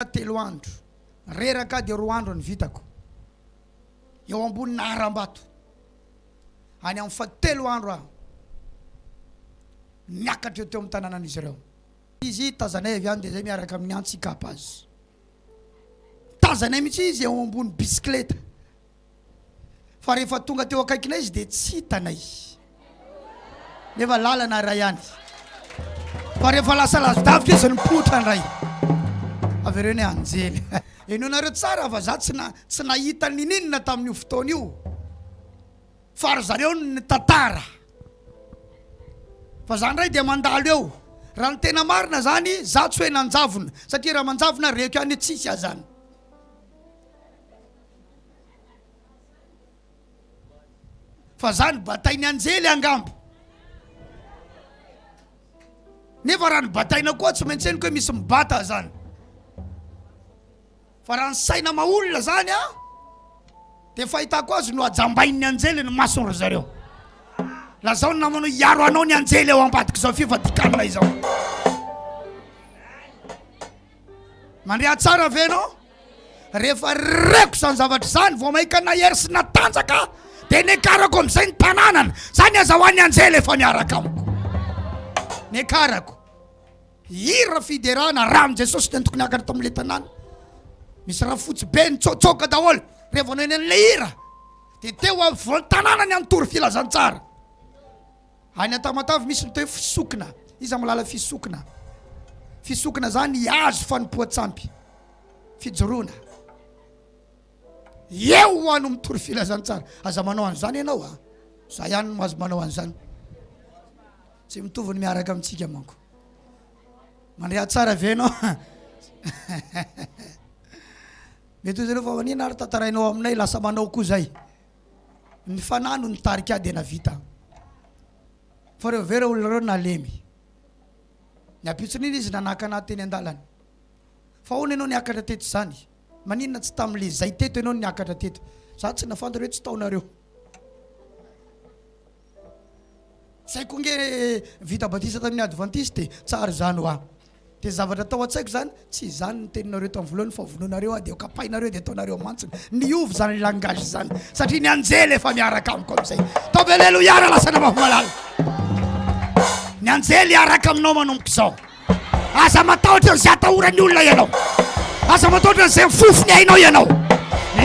Reraka telo andro, reraka dia roa andro ny vitako eo ambonina harambato. Any amin'ny fahatelo andro aho niakatra eo teo amin'ny tanànan'izy ireo. Izy, tazanay avy any dia izay miaraka amin'ny antsy hikapa azy. Tazanay mihitsy izy eo ambony bisikileta Fa rehefa tonga teo akaikinay izy dia tsy hitanay. Nefa lalana iray ihany. Fa rehefa lasa lazodavika izy nipoitra indray. Avereo ny anjely. Henoinareo tsara fa za tsy na tsy nahita nininona tamin'io fotoana io. Fa ry zareo no nitantara. Fa za indray dia mandalo eo. Raha ny tena marina zany za tsy hoe nanjavona satria raha manjavona reko ihany hoe tsisy azany. Fa zany batain'ny anjely angambo. Nefa raha ny bataina koa tsy maintsy henoko hoe misy mibata zany. Fa raha ny saina maolona zany a dia fahitako azy no ajambain'ny anjely ny masony ry zareo. Lazao ny namanao hiaro anao ny anjely ao ambadik'izao fivadikanina izao. Mandria tsara ve ianao? Rehefa reko izany zavatra izany, vao mainka nahery sy natanjaka aho, dia niakarako amin'izay ny tananana. Izany aza ho an'ny anjely efa miaraka amiko. Niakarako hira fiderana, ran'i Jesosy dia tokony niakatra tamin'ilay tanàna. Misy rafotsy be nitsotsoka daholo rehefa noheno an'ilay hira, dia teo afovoan'ny tanàna ny antory filazantsara. Any Antamatave misy ny toe fisokina, iza malala fisokina? Fisokina zany hihazo fanompoan-tsampy, fijoroana. Eo ho ano mitory filazantsara, aza manao an'izany ianao a, za ihany no azo manao an'izany, tsy mitovy ny miaraka amintsika manko. Mandre atsara ve ianao? Mety hoy zareo fa manina ary tantarainao aminay lasa manao koa zay. Ny fanahy no nitarika ahy dia navita. Fa ireo vera olona ireo nalemy. Ny ampitson'iny izy nanakana ahy teny an-dalana. Fa ahoana ianao niakatra teto izany? Maninona tsy tamin'ilay izay teto ianao no niakatra teto? Izaho tsy nahafantatra hoe tsy tao nareo. Saiko nge vita batisa tamin'ny advantiste e! Tsara izany hoa! Dia zavatra tao an-tsaiko izany, tsy izany ny teninareo tamin'ny voalohany fa vonoinareo aho dia ho kapainareo dia ataonareo mantsina. Niova izany langage izany satria ny anjely efa miaraka amiko amin'izay. Ataovy aleloia raha lasanao mafy malala. Ny anjely hiaraka aminao manomboka izao. Aza matahotra an'izay atahoran'ny olona ianao. Aza matahotra an'izay mifofo ny ainao ianao.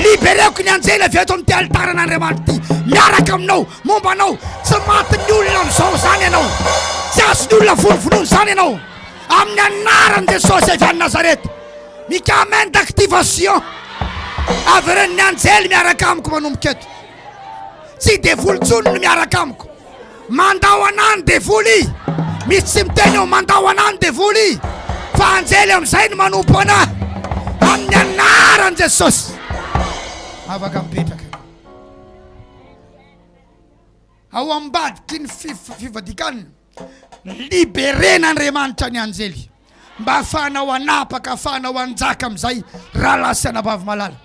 Libereko ny anjely avy eto amin'ity alitaran'Andriamanitra ity. Miaraka aminao, momba anao. Tsy matin'ny olona amin'izao izany ianao. Tsy azon'ny olona vonovonoina izany ianao. Amin'ny anaran'i Jesosy avy any Nazareth. Mikamenn d'activation. Averen'ny anjely miaraka amiko manomboka eto. Tsy devoly intsony no miaraka amiko. Mandao anah ny devoly i! Misy tsy miteny eo, mandao anah ny devoly i! Fa anjely amin'izay no manompo anah, amin'ny anaran'i Jesosy! Afaka mipetraka. Ao ambadiky ny fif- fivadikana, liberen'Andriamanitra ny anjely, mba ahafahanao hanapaka, ahafahanao hanjaka amin'izay rahalahy sy anabavy malala.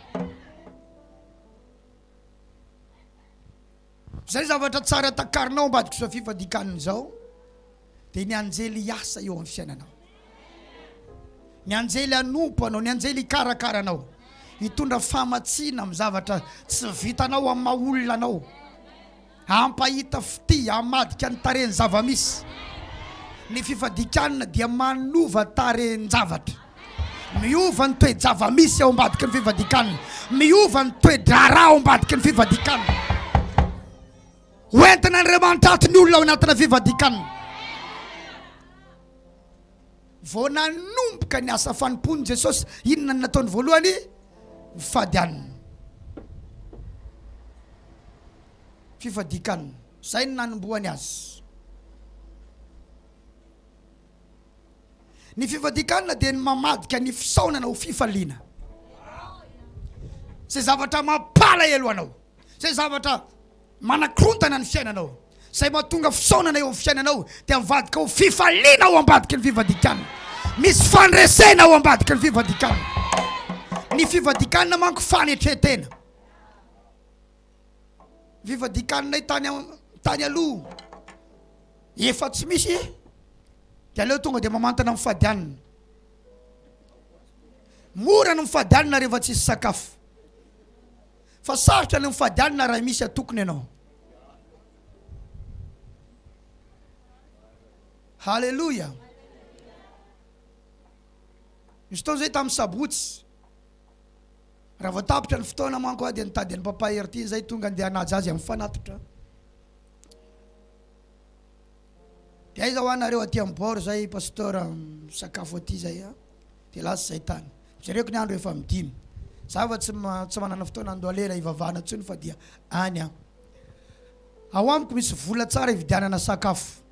Izay zavatra tsara takarina ao ambadik'izao fifadikanana izao dia ny anjely hiasa eo amin'ny fiainanao, ny anjely hanompo anao, ny anjely hikarakara anao, hitondra famatsiana amin'ny zavatra tsy vitanao amin'ny maha olona anao, hampahita fitia, hamadika ny tarehin'ny zava-misy. Ny fifadikanana dia manova tarehin-javatra. Miova ny toe-java-misy ao ambadiky ny fifadikan-kanina. Miova ny toe-draharaha ao ambadiky ny fifadikan-kanina. Hoentin'Andriamanitra ato ny olona ao anatina fifadikan-kanina. Vao nanomboka ny asa fanompoany Jesosy, inona no nataony voalohany? Nifady hanina. Fifadian-kanina. Izay no nanombohany azy. Ny fivadikanana dia ny mamadika ny fisaonana ho fifaliana. Izay zavatra mampalahelo anao, izay zavatra manakorontana ny fiainanao, izay mahatonga fisaonana eo amin'ny fiainanao dia mivadika ho fifaliana ao ambadiky ny fivadikanana. Misy fandresena ao ambadiky ny fivadikanana. Ny fivadikanana manko fanetren-tena. Vivadikaninay tany am tany aloha efa tsy misy de aleo tonga de mamantana mifady hanina mora ny mifady hanina rehefa tsisy sakafo fa sarotra ny mifady hanina raha misy atokona ianao haleloia misy fotoana zay tamin'ny sabotsy Raha vao tapitra ny fotoana manko a dia ny tady an'i Papa Hertin izay tonga andeha hanaja azy amin'ny fanatitra. Dia aiza hoa nareo aty amin'ny bord izay Pasteur misakafo aty izay a? Dia lasa izay tany. Jereko ny andro efa amin'ny dimy. Za fa tsy ma- tsy manana fotoana handoa lela hivavahana intsony fa dia any aho. Ao amiko misy vola tsara hividianana sakafo.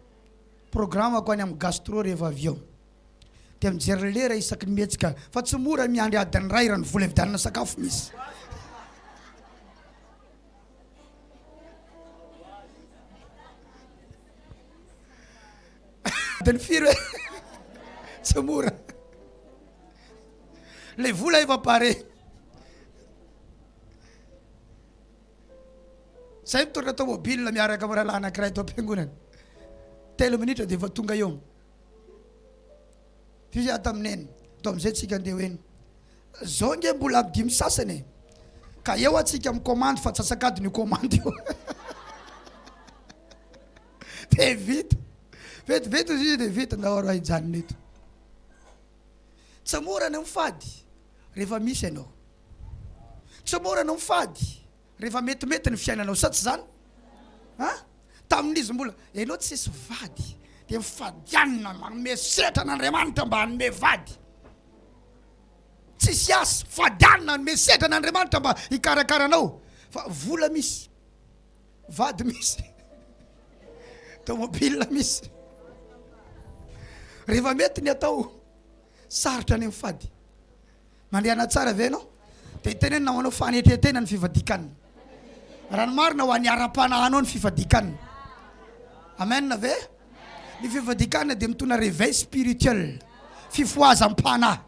Programme-ko any amin'ny gastro rehefa avy eo. dia mijery lera isaky ny mihetsika fa tsy mora miandry adiny iray raha ny vola ividianana sakafo misy. Adiny firy hoe tsy mora le vola efa pare. Zay mitondra tomobile miaraka amin'ny rahalahy anankiray tao am-piangonana, telo minitra dia efa tonga eo. Fy ato amin eny to amizay tsika ndeha ho eny zao nge mbola am dimy sasany e ka eo atsika mi commande fa tsasakadiny io commande io de vita vetivety izy io de vita ndao aro hijanona eto tsy mora ny mifady rehefa misy ianao tsy mora ny mifady Rehefa metimety ny fiainanao sa tsy izany? A! Tamin'izy mbola ianao tsisy vady dia mifadianina manome setra an'Andriamanitra mba hanome vady. Tsisy asa, fadianina hanome setra an'Andriamanitra mba hikarakara anao fa vola misy, vady misy, tomobile misy. Rehefa mety ny atao, sarotra ny mifady. Mandehana tsara ve ianao? Dia hitenenina ho anao fanetren-tena ny fifadikan'ny. Raha ny marina, ho an'ny ara-panahinao ny fifadikan'ny. Amen ve? Ny fifadikanana dia mitondra réveil spirituel, fifohazam-panahy.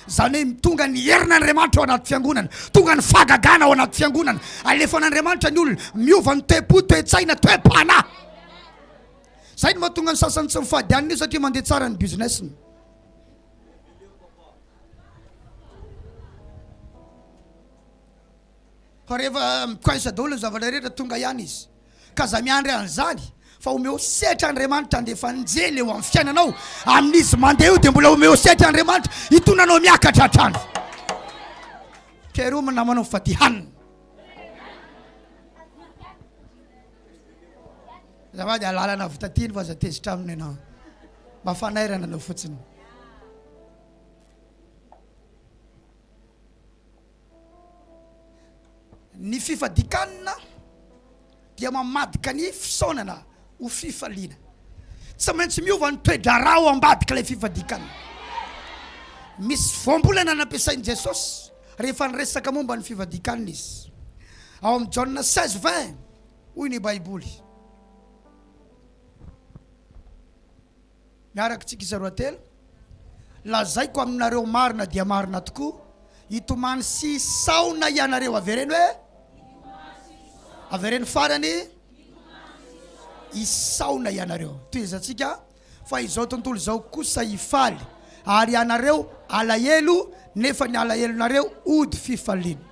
Izany hoe tonga ny herin'Andriamanitra ao anaty fiangonana, tonga ny fahagagana ao anaty fiangonana, alefan'Andriamanitra ny olona, miova ny toe-po, toe-tsaina, toe-panahy. Izay no mahatonga ny sasany tsy mifady an'io satria mandeha tsara ny business-ny. Fa rehefa mikoinsa daholo ny zavatra rehetra, tonga ihany Izy. Ka aza miandry an'izany, fa omeo sehatra Andriamanitra handefa anjely eo amin'ny fiainanao. Amin'Izy mandeha io dia mbola omeo sehatra Andriamanitra hitondra anao miakatra hatrany. Pierrot namanao fatihanina. Azafady alalana avy taty no aza tezitra aminy ianao mba fanairana anao fotsiny. Ny fifadikanana dia mamadika ny fisaonana ho fifaliana. Tsy maintsy miova ny toe-draharaha ao ambadik'ilay fifadikanana. Misy voambolana nampiasain'i Jesosy Rehefa niresaka momba ny fivadikanina izy ao amin'ny Jaona seize vingt, hoy ny Baiboly, Miaraka isika izaroa telo, lazaiko aminareo marina dia marina tokoa, hitomany sy hisaona ianareo, avereno hoe, avereno farany, hisaona ianareo. Tohizantsika, Fa izao tontolo izao kosa hifaly, ary ianareo halahelo, nefa ny alahelonareo hody fifaliana.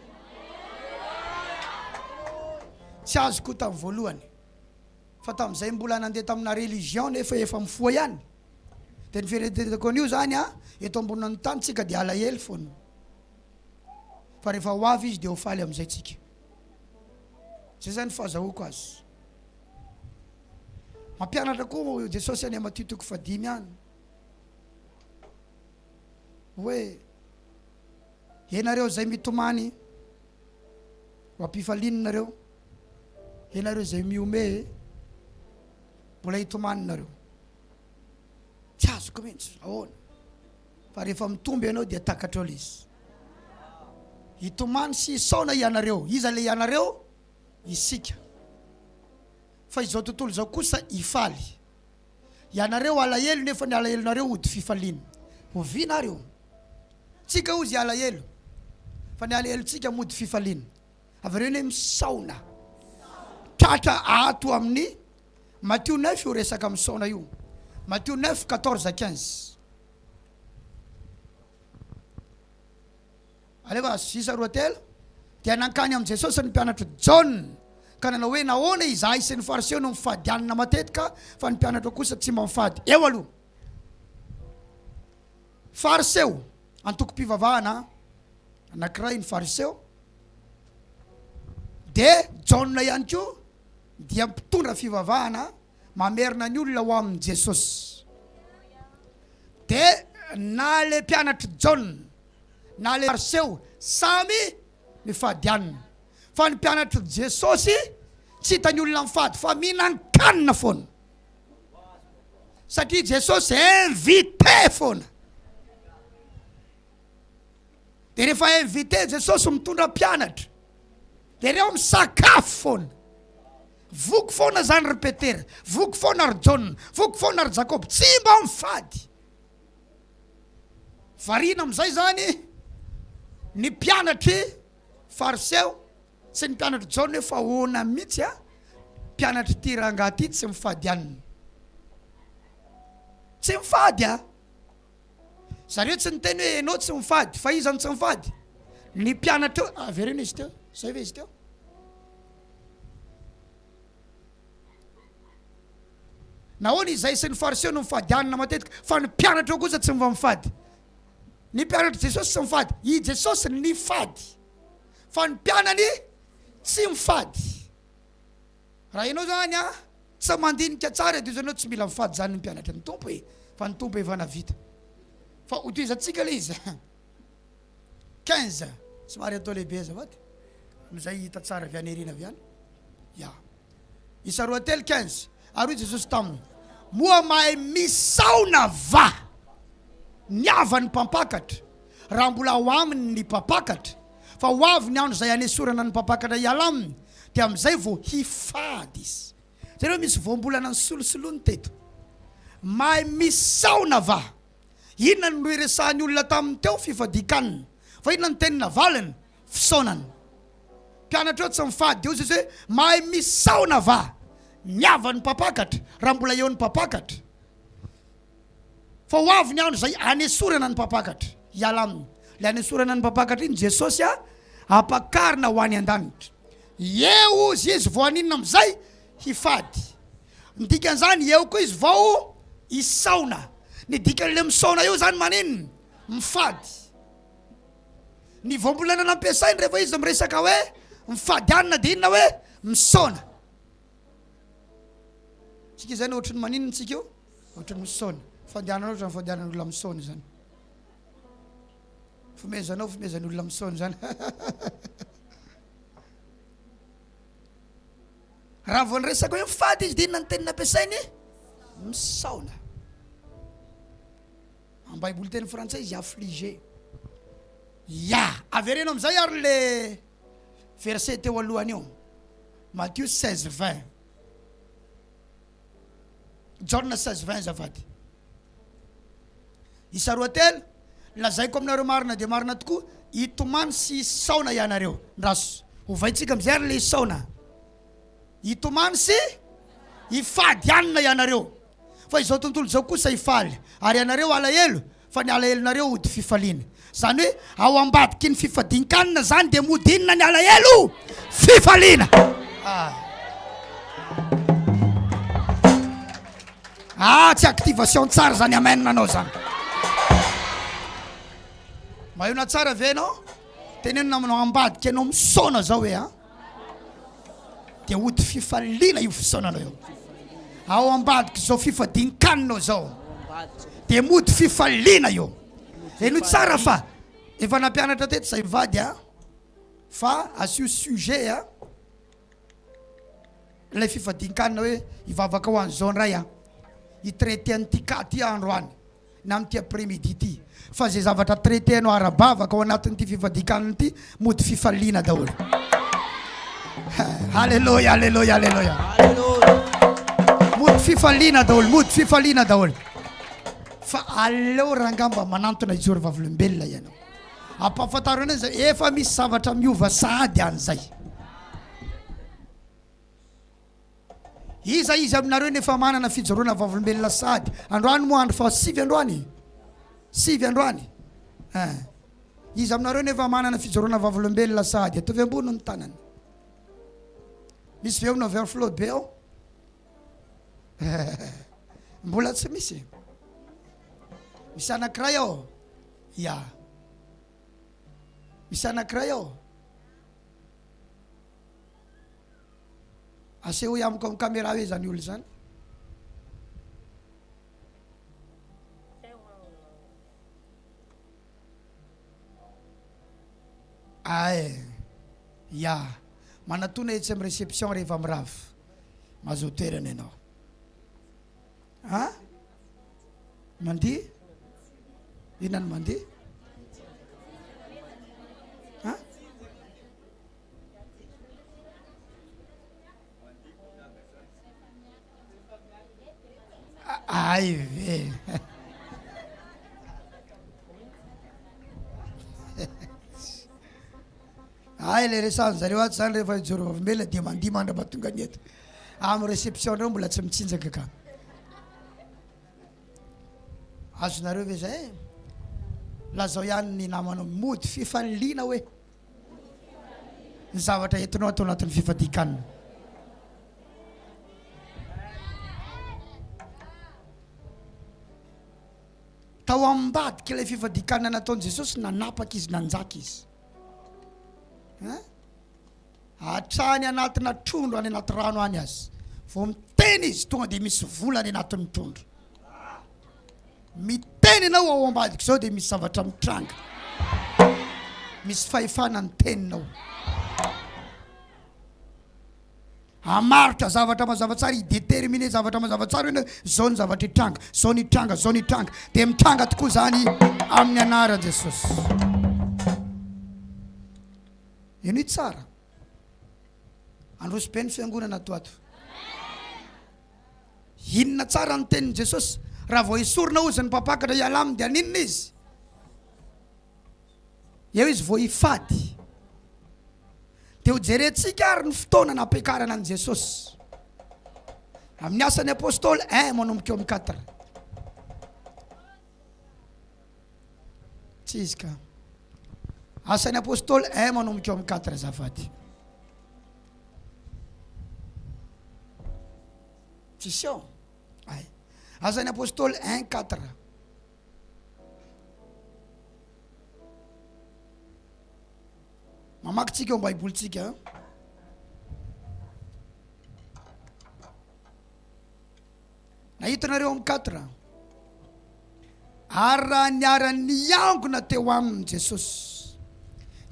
Tsy azoko io tamin'ny voalohany, fa tamin'izay mbola nandeha tamina religion nefa efa mifoha ihany, dia ny fieretretako an'io izany an, eto ambonin'ny tany tsika dia halahelo foana, fa rehefa ho avy Izy dia ho faly amin'izay tsika. Izay izany fahazahoako azy. Mampianatra koa Jesosy any Matio toko fahadimy any hoe ianareo izay mitomany ho ampifalianareo, ianareo izay mihomehy mbola hitomaninareo. Tsy azoko mihitsy ahoana fa rehefa mitombo ianao dia takatrao ilay izy. Hitomany sy hisaona ianareo. Iza ilay ianareo? isika. Fa izao tontolo izao kosa hifaly. Ianareo alahelo nefa ny alahelonareo hody fifaliana. Oviana ary io? Tsika hozy alahelo fa ny alahelontsika mody fifaliana. Avereno hoe misaona. Tratra ato amin'ny Matio neuf io resaka misaona io. Matio neuf quatorze à quinze. Alefa azo sisa roa telo. Dia nankany amin'i Jesosy ny mpianatr'i Jaona, ka nanao hoe, Nahoana izahay sy ny Fariseo no mifady hanina matetika, fa ny mpianatrao kosa tsy mba mifady? Eo aloha. Fariseo, antokom-pivavahana anankiray ny Fariseo, dia Jaona ihany koa dia mpitondra fivavahana mamerina ny olona ho amin'i Jesosy. Dia na ilay mpianatr'i Jaona, na le fariseo samy mifady hanina fa ny mpianatry Jesosy tsy hitany olona mifady fa mihinan-kanina foana satria Jesosy invite foana de rehefa invite Jesosy mitondra mpianatra de reo misakafo foana voky foana zany ry Petera voky foana ry Jaona voky foana ry Jakoba tsy mba mifady Variana amin'izay izany ny mpianatr'i Fariseo sy ny mpianatr'i Jaona hoe fa ahoana mihitsy a, mpianatr'ity rangahy ity tsy mifady hanina. Tsy mifady a! Zareo tsy niteny hoe ianao tsy mifady fa iza no tsy mifady? Ny mpianatra eo, avereno izy teo, zay ve izy teo? Nahoana izay sy ny Fariseo no mifadianana matetika, fa ny mpianatra ao kosa tsy mba mifady? Ny mpianatr'i Jesosy tsy mifady. I Jesosy nifady, fa ny mpianany tsy mifady. Raha ianao izany an, tsy mandinika tsara dia ianao tsy mila mifady izany ny mpianatra ny Tompo e, fa ny Tompo efa navita. Fa ho tohizantsika ilay izy. quinze somary atao lehibe azafady amizay hita tsara avy any airina avy any ya isa roa telo quinze ary hoy jesosy taminy moa mahay misaona va ny havan'ny mpampakatra raha mbola ao aminy ny mpampakatra fa ho avy ny andro izay hanesorana ny mpampakatra hiala aminy dia amizay vao hifady izy zany hoe misy voambolana ny solosoloany teto mahay misaona va Inona no nohiresahan'ny olona taminy teo? Fifadian-kanina. Fa inona no teny navaliny? Fisaonana. Mpianatra eo tsy mifady eo Jesoa hoe, Mahay misaona va? Miava ny mpampakatra, raha mbola eo ny mpampakatra. Fa ho avy ny andro izay hanesorana ny mpampakatra, hiala aminy. Ilay hanesorana ny mpampakatra iny Jesosy hampakarina ho any an-danitra. Eo ozy izy vao haninona amin'izay? Hifady. Ny dikan'izany, eo koa izy vao hisaona. Ny dikan'ilay misaona eo izany maninona? Mifady. Ny voambolana nampiasainy rehefa izy miresaka hoe mifady hanina dia inona hoe misaona. Tsika izany ohatry ny maninona tsika io? Ohatry ny misaona. Fandehanana ohatry ny fandehanan'olona misaona izany. Fomezanao fomezan'olona misaona izany. Raha vao niresaka hoe mifady izy dia inona ny teny nampiasainy? Misaona. Amin'ny Baiboly teny frantsay izy affligé. Ya, avereno amin'izay ary le verset teo alohany io. Matthieu 16 20. Jaona seize vingt azafady isa roa telo lazaiko aminareo marina dia marina tokoa hitomany sy hisaona ianareo ndraso hovaintsika amizay ary le hisaona hitomany sy hifady anina ianareo fa izao tontolo izao kosa hifaly ary ianareo alahelo fa ny alahelonareo hody fifaliana. Izany hoe ao ambadiky ny fifadin-kanina izany dia mody inona ny alahelo? Fifaliana. Ah. Ah, tsy activation tsara izany amen nanao izany. Maheno tsara ve ianao? Tenenina aminao ambadika ianao misaona izao hoe a. Ah. dia hody fifaliana io fisaonanao io ao ambadik'izao fifadian-kaninao izao dia mody fifaliana io heno tsara fa efa nampianatra teto izay mivady a fa asio sujet a ilay fifadian-kanina hoe hivavaka ho an'izao indray a hitraiter an'ity cas ty aho androany na amin'ity après midi ity fa izay zavatra traiter-nao ara-bavaka ao anatin'ity fifadikanana ity mody fifaliana daholo Alléluia Alléluia Alléluia mody fifaliana daholo mody fifaliana daholo fa aleo rangah mba manantona i Jehovah vavolombelona ianao ampahafantaro anay zay efa misy zavatra miova sahady an'izay Iza izy aminareo no efa manana fijoroana vavolombelona sahady? Androany moa andro faha sivy androany e? Sivy androany eh. Iza aminareo no efa manana fijoroana vavolombelona sahady? Ataovy ambony ny tanana. Misy ve ao na overflow be ao? Mbola tsy misy. Misy anankiray ao? Ya. Misy anankiray ao? Asehoy amiko am camera hoe izany olona izany. Ay, ya, manatona etsy am reception rehefa mirava. Mazoa toerana ianao. Ha? Mandihy? Inona no mandihy? Ha? Ay ve! Ay le resahan'ny zareo ato zany rehefa hijoro vavolombelona dia mandihy mandra-pahatonga ny eto. Amin'ny réception reo mbola tsy mitsinjaka ka. Azonareo ve zay? Lazao ihany ny namanao mody fifaliliana hoe. ny zavatra entinao ato anatin'ny fifadian-kanina. Tao ambadik'ilay fifadian-kanina nataon'i Jesosy, nanapaka izy, nanjaka izy. Hein? Hatrany anatina trondro any anaty rano any aza. Vao miteny izy, tonga dia misy vola any anatin'ny trondro. Miteny ianao ao ambadika izao dia misy zavatra mitranga. Misy fahefana ny teninao. Hamaritra zavatra mazava tsara, hi-determiner zavatra mazava tsara ianao, izao ny zavatra hitranga, izao ny hitranga, izao ny hitranga. Dia mitranga tokoa izany amin'ny anaran'i Jesosy. Henoy tsara. Androso be ny fiangonana ato ato. Inona tsara ny tenin'i Jesosy? Raha vao esorina hozy ny mpampakatra hiala aminy dia haninona izy? Eo izy vao hifady. Dia hojerentsika ary ny fotoana nampiakarana an'i Jesosy. Amin'ny asan'ny apostoly 1 manomboka eo amin'ny 4. Tsy izy ka. Asan'ny Apostoly un manomboka eo amin'ny quatre azafady. Tsisy eo? Ay. Asan'ny Apostoly un quatre. Mamaky tsika eo am baibolintsika. Nahita nareo amin'ny quatre. Ary raha niara niangona teo aminy Jesosy,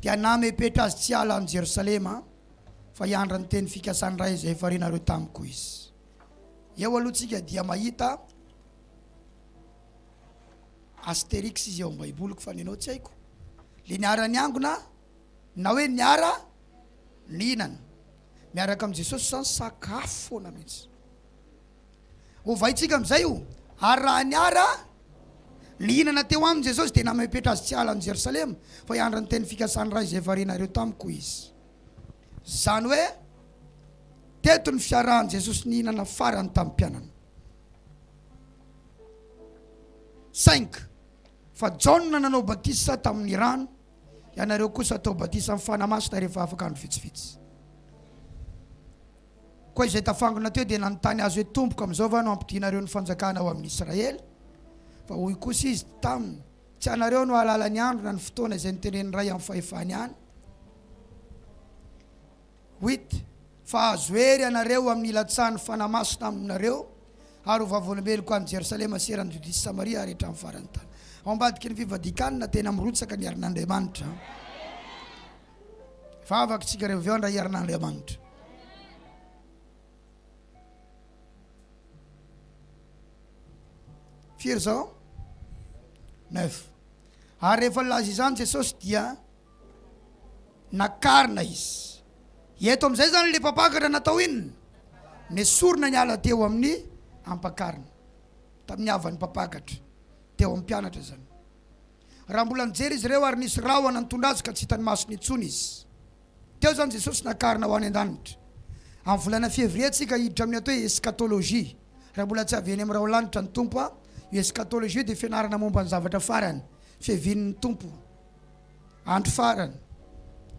dia namepetra azy tsy hiala any Jerosalema, fa hiandry ny teny fikasan'ny Ray izay efa renareo tamiko izy. Eo aloha tsika dia mahita astérix izy eo amin'ny baiboliko fa nenao tsy haiko le niara niangona na hoe niara nihinana miaraka amin'i Jesosy zany sakafo foana mihitsy Hovaintsika amin'izay io. Ary raha niara nihinana teo aminy Jesosy, dia namehy petra azy tsy hiala any Jerosalema, fa hiandry ny teny fikasan'ny Ray izay varianareo tamiko izy. Izany hoe, teto ny fiarahan'i Jesosy nihinana farany tamin'ny mpianany. Saingy, fa Jaona nanao batisa tamin'ny rano, ianareo kosa hatao batisa amin'ny Fanahy Masina rehefa afaka andro vitsivitsy. Koa izay tafangona teo dia nanontany azy hoe, Tompoko, amin'izao va no hampodianareo ny fanjakana ao amin'ny Israely? Fa hoy kosa izy taminy, Tsy ianareo no hahalala ny andro na ny fotoana izay notenenin'ny Ray amin'ny fahefany any. Huit, Fa hahazo hery ianareo amin'ny hilatsahan'ny Fanahy Masina aminareo, ary ho vavolombeloko any Jerosalema sy eran'i Jodia sy Samaria ary hatramin'ny faran'ny tany. Ao ambadiky ny fivadikan-na, tena mirotsaka ny herin'Andriamanitra. fa avaka tsika revo aveo andray hiarina Andriamanitra. Firy zao? Neuf. Ary rehefa nilaza izany Jesosy dia nakarina izy. Eto amin'izay zany le mpampakatra natao inona? Nesorina ny ala teo amin'ny ampakarina tamin'ny havan'ny mpampakatra teo amin'ny mpianatra zany. Raha mbola nijery izy ireo ary nisy rahona nitondra azy ka tsy hitan'ny masony intsony izy. Teo izany Jesosy nakarina ho any an-danitra. Amin'ny volana Février tsika hiditra amin'ny atao hoe Eschatologie. Raha mbola tsy avy eny amin'ny raholanitra ny Tompo an! Io Eschatologie io dia fianarana momba ny zavatra farany, fiavian'ny Tompo, andro farany,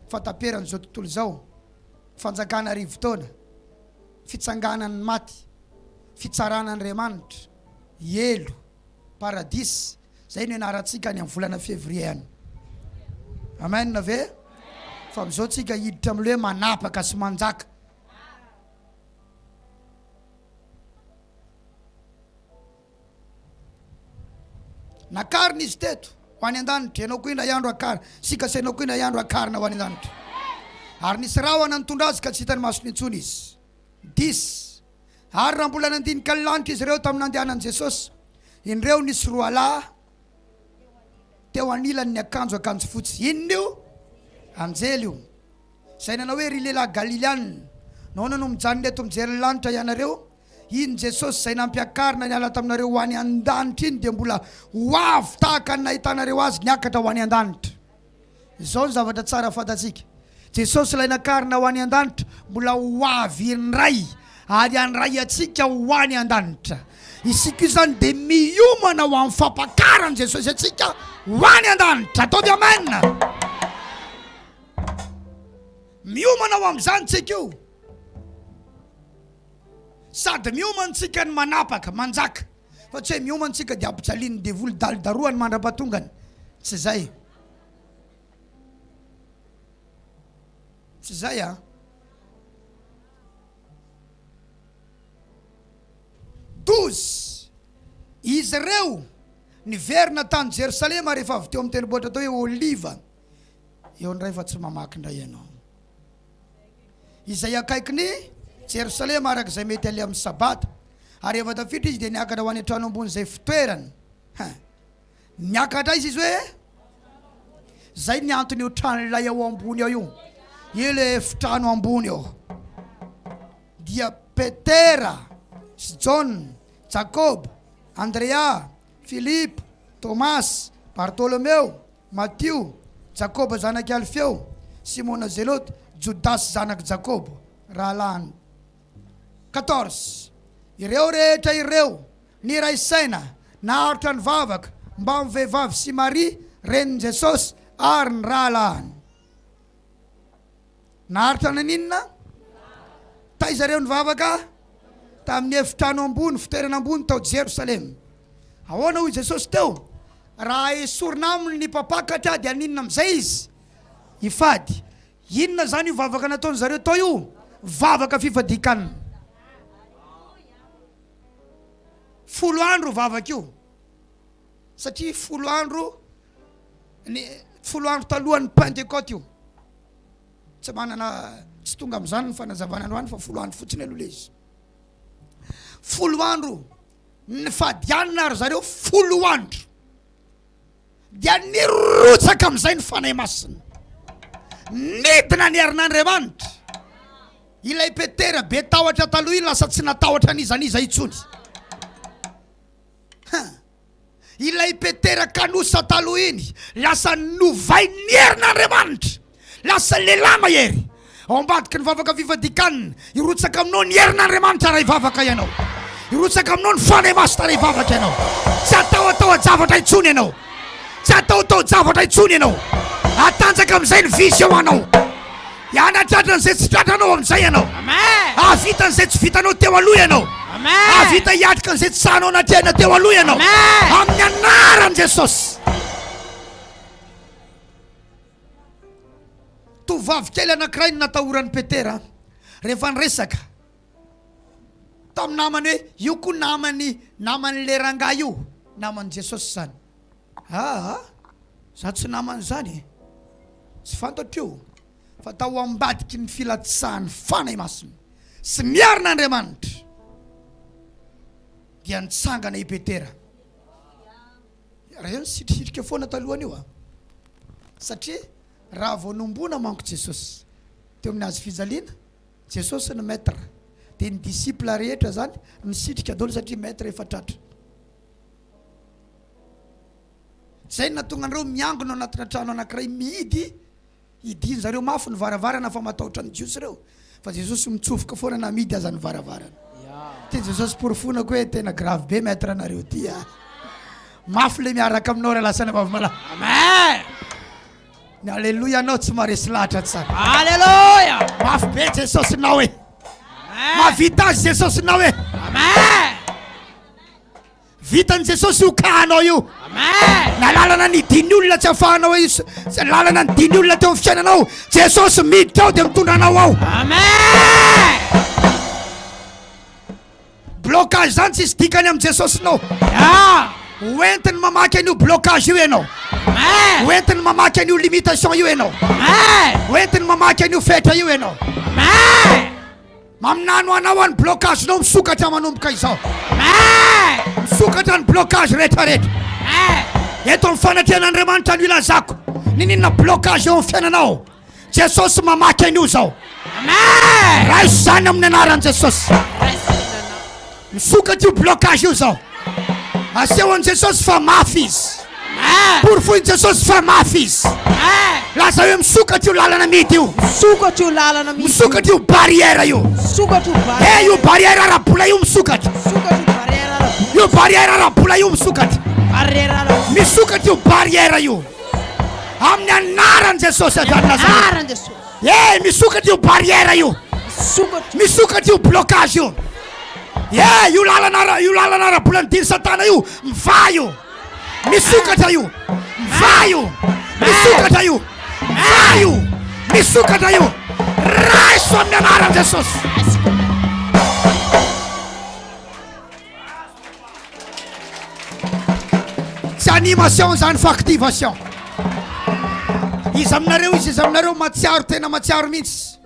fahataperan'izao tontolo izao, fanjakana arivo taona, fitsanganan'ny maty, fitsarana Andriamanitra, helo, paradisa, Izay no ianarantsika any amin'ny volana Février any. Amen ve? Fa amin'izao tsika hiditra amin'ilay hoe manapaka sy manjaka. Nakarina izy teto ho any an-danitra, ianao koa indray andro akarina, sika sy ianao koa indray andro akarina ho any an-danitra. Ary nisy rahona nitondra azy ka tsy hitan'ny masony intsony izy. Dis, Ary raha mbola nandinika ny lanitra izy ireo tamin'ny nandehanan'i Jesosy, indreo nisy roalahy teo anilany niakanjo akanjo fotsy. Inona io? Anjely io. Izay nanao hoe, Ry lehilahy Galileana, nahoana no mijanona eto mijery ny lanitra ianareo? Iny Jesosy izay nampiakarina niala taminareo ho any an-danitra iny dia mbola ho avy tahaka ny nahitanareo azy niakatra ho any an-danitra. Izao ny zavatra tsara fantatsika, Jesosy Ilay nakarina ho any an-danitra mbola ho avy indray ary handray antsika ho any an-danitra. Isika izany dia miomana ho amin'ny fampakaran'i Jesosy antsika ho any an-danitra. Ataovy Amen! Miomana ho amin'izany tsika io. Sady miomana tsika ny manapaka, manjaka. Fa tsy hoe mioma antsika dia ampijalian'ny devoly daly darohany mandra-pahatongany. Tsy izay. Tsy izay a. Douze. Izy ireo niverina tany Jerosalema rehefa avy teo amin'ny tendrombohitra atao hoe Oliva. Eo indray fa tsy mamaky indray ianao. izay akaikin'i Jerosalema araka izay mety aleha amin'ny Sabata. Ary rehefa tafiditra izy dia niakatra ho any an-trano ambony izay fitoerany. Hein. Niakatra aiza izy hoe? Izay ny anton'io trano ilay ao ambony ao io. Io le efitrano ambony eo. Dia Petera sy Jaona, Jakoba, Andrea, Filipo, Tomasy, Bartolomeo, Matio, Jakoba zanak'i Alfeo, Simona Zelote, Jodasy zanak'i Jakobo, rahalahiny. Quatorze, Ireo rehetra ireo niray saina naharitra ny vavaka mbamin'ny vehivavy sy Maria, renin'i Jesosy, ary ny rahalahiny. Naharitra naninona? Taiza ireo nivavaka? Tamin'ny efitrano ambony, fitoerana ambony tao Jerosalema. Ahoana hoy Jesosy teo? Raha esorina aminy ny mpampakatra dia haninona amin'izay izy? Hifady. Inona izany io vavaka nataon-dry zareo tao io? Vavaka fifadian-kanina. Folo andro io vavaka io. Satria folo andro ny folo andro talohan'ny Pentecote io. Tsy manana tsy tonga amin'izany ny fanazavana androany fa folo andro fotsiny aloha le izy. Folo andro ny fadianina ary zareo folo andro dia nirotsaka amin'izay ny fanahy masina nidina ny herin'andriamanitra ilay petera be tahotra taloha io lasa tsy natahotra an'iza n'iza intsony Huh! Ilay Petera kanosa taloha iny lasa novain'ny herin'Andriamanitra lasa lehilahy mahery. Ao ambadiky ny vavaka fifadikan, hirotsaka aminao ny herin'Andriamanitra raha hivavaka ianao. Hirotsaka aminao ny Fanahy Masina raha hivavaka ianao. Tsy hatahotahoa-javatra intsony ianao. Tsy hatahotaho-javatra intsony ianao. Hatanjaka amin'izay ny visy eo anao. Hanatratra an'izay tsy tratranao amin'izay ianao. Hahavita an'izay tsy vitanao teo aloha ianao. Hahavita hiatrika an'izay tsy sahanao natrehina teo aloha ianao. Amin'ny anaran'i Jesosy. Tovovavy kely anankiray no natahoran'i Petera rehefa niresaka tamin'ny namany hoe io koa namany naman'le rangahy io naman'i Jesosy zany aa za tsy namany zany e tsy fantatro io fa tao ambadiky ny filatsahan'ny Fanahy Masina sy ny herin'Andriamanitra dia nitsangana i Petera reo nisitrisitrika foana talohan'io a satria raha vao nombona manko Jesosy teo amin'ny hazo fijaliana Jesosy ny Maître dia ny disciple rehetra zany misitrika daholo satria Maître efa tratra. Zay no nahatonga anareo miangona ao anatina trano anakiray mihidy hidian zareo mafy ny varavarana fa matahotra ny Jiosy reo fa Jesosy mitsofoka foana na mihidy aza ny varavarana. Ty Jesosy porofonako hoe tena grave be Maître nareo ty a. Mafy le miaraka aminao ra lasan'i Vavimalaho. Amen. Ny aleloia nao tsy maresy lahatra tsara. Aleloia. Mafy be Jesosy nao e. Mahavita azy Jesosy nao e. Amen. Vitan'i Jesosy io kahanao io. Amen. Na lalana ny diny olona tsy afahanao izy. Lalana ny diny olona teo amin'ny fiainanao. Jesosy miditra ao dia mitondra anao ao. Amen. Blocage zany tsisy dikany am Jesosinao ah! Hoentiny mamaky an'io blocage io ianao Amen. Hoentiny mamaky an'io limitation io ianao Amen. Hoentiny mamaky an'io fetra io ianao Amen. Maminany ho anao any blocage nao misokatra manomboka izao Amen. Misokatra ny blocage rehetrarehetra Amen. Eto amin'ny fanatrena Andriamanitra no ilazako Nininona blocage eo amin'ny fiainanao Jesosy mamaky an'io zao. Amen. Raiso izany amin'ny anaran'i Jesosy. Misokatra io blocage io zao. Aseho an'i Jesosy fa mafy izy. Porofoin'i Jesosy fa mafy izy. Laza hoe misokatra io lalana midy io. Misokatra io lalana midy. Misokatra io barrière io. Misokatra io barrière. Eh io barrière ara-bola io misokatra. Misokatra io barrière ara-bola. Io barrière ara-bola io misokatra. Barrière ara-bola. Misokatra io barrière io. Amin'ny anaran'i Jesosy avy any Nazareth. Anaran'i Jesosy. Hey, misokatra io barrière io. Misokatra. Misokatra io blocage io. Hey, io lalana ara- io lalana ara-bola nidiny Satana io, mivaha io. Misokatra io. Mivaha io. Misokatra io. Mivaha io. Misokatra io. Raiso amin'ny anaran'i Jesosy. Tsy animation izany fa activation. Iza aminareo izy iza aminareo matsiaro tena matsiaro mihitsy.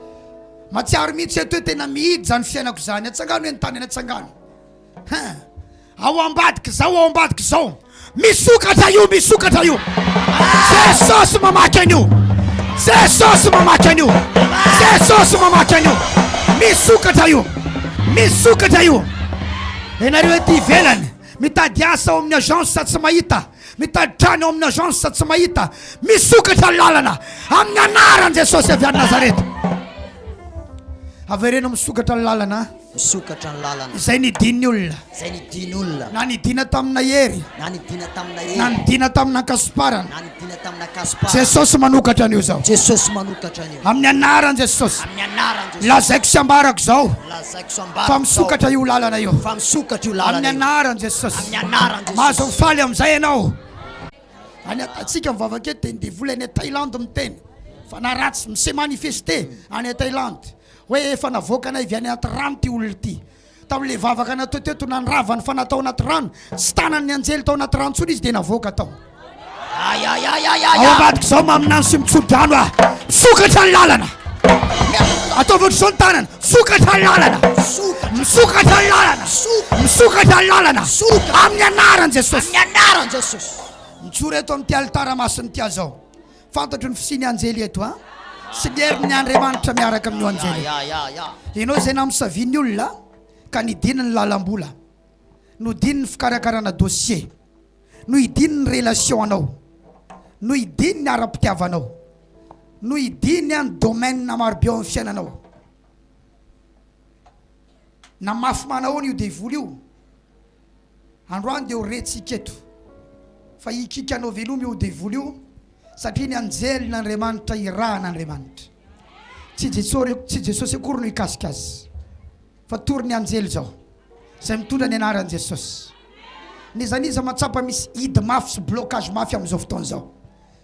Matsiaro mihitsy eto hoe tena mihidy izany fiainako izany. Atsangano eny tany eny atsangano. Hein. Ao ambadika izao ao ambadika izao. Misokatra io misokatra io Jesosy mamaky an'io Jesosy mamaky an'io Jesosy mamaky an'io Misokatra io Misokatra io Ianareo ety ivelany mitady asa ao amin'ny agence sa tsy mahita mitady trano ao amin'ny agence sa tsy mahita Misokatra ny lalana amin'ny anaran'i Jesosy avy any Nazareta Avereno misokatra ny lalana Misokatra ny lalana. Izay nidin'ny olona. Izay nidin'ny olona. Na nidina tamina hery. Na nidina tamina hery. Na nidina tamina ankasomparana. Na nidina tamina ankasomparana. Jesosy manokatra an'io izao. Jesosy manokatra an'io. Amin'ny anaran'i Jesosy. Amin'ny anaran'i Jesosy. Lazaiko sy ambarako izao. Lazaiko sy ambarako izao. Fa misokatra io lalana io. Fa misokatra io lalana io. Amin'ny anaran'i Jesosy. Amin'ny anaran'i Jesosy. Mahazo mifaly amin'izay ianao. Any an-tatsika ny vavaka eto dia ny devoly any Thaïlande miteny. Fanahy ratsy mi-se manifester any Thaïlande. Hoe efa navoakanay avy any anaty rano ity olona ity. Tamin'ilay vavaka natao teto, nandrava ny fanahy tao anaty rano. Tsy tanan'ny anjely tao anaty rano intsony izy, dia navoaka tao. Aïe, aïe, aïe, aïe, aïe. Ao ambadik'izao maminany sy mitsodrano aho. Misokatra ny lalana. Ataovy ohatr'izao ny tanana. Misokatra ny lalana. Misokatra ny lalana. Misokatra ny lalana. Amin'ny anaran'i Jesosy. Amin'ny anaran'i Jesosy. Mijoro eto amin'ity alitara masin'ity aho izao. Fantatro ny fisian'ny anjely eto a! sy ny herin'ny Andriamanitra miaraka amin'io anjely io. Ianao izay namosavian'ny olona ka nidina ny lalam-bola, nodino ny fikarakarana dossier, nohidino ny relation-nao, nohidino ny ara-pitiavanao, nohidino ny domaine maro be ao amin'ny fiainanao. Namafy manahoana io devoly io? Androany dia ho rentsika eto fa hikiaka anao velomy io devoly io satria ny anjelin' Andriamanitra irahan' Andriamanitra. Tsy Jesosy, tsy Jesosy akory no hikasika azy fa tory ny anjely izao izay mitondra ny anaran'i Jesosy. N'iza n'iza mahatsapa misy hidy mafy sy blocage mafy amin'izao fotoana izao.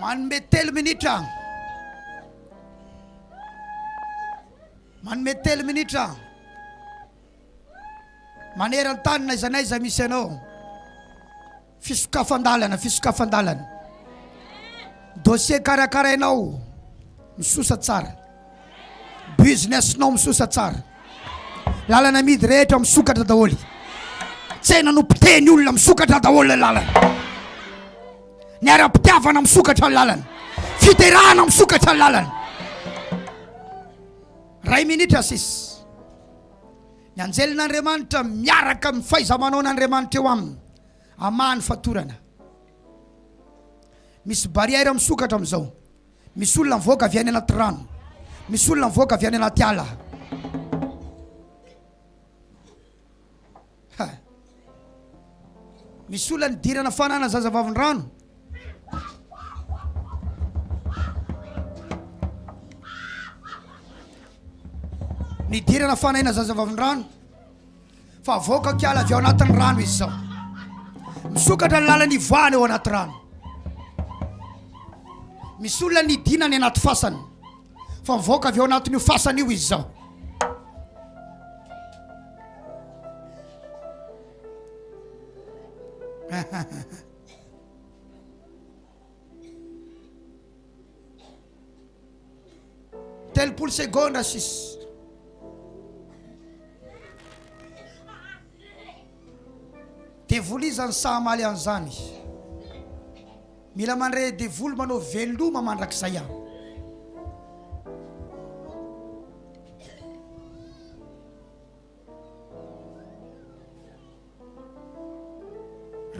Manome telo minitra. Manome telo minitra. Maneran-tany n'aiza n'aiza misy anao. Fisokafan-dalana, fisokafan-dalana. Dossier karakarainao misosa tsara. Business-nao misosa tsara. Lalana amidy rehetra misokatra daholo. Tsena nopotehiny olona misokatra daholo le lalana. Ny ara-pitiavana misokatra ny lalana. Fiterahana misokatra ny lalana. Ray minitra sisa. Ny anjelin'Andriamanitra miaraka amin'ny fahaiza-manaon'Andriamanitra eo aminy hamaha ny fatorana. Misy barrière misokatra amin'izao. Misy olona mivoaka avy any anaty rano. Misy olona mivoaka avy any anaty ala. Misy olona nidirana fanana zaza vavin-drano. Nidirana fanaina zaza vavin-drano fa avoaka kiala avy ao anatin'ny rano izy zao. Misokatra ny lalan'ny ivoahana eo anaty rano. Misy olona nidina any anaty fasana. fa mivoaka avy ao anatin'io fasana io izy zao telopolo segondra sisy devoly izany sahamaly an'izany Mila mandre devoly manao veloma mandrakizay aho.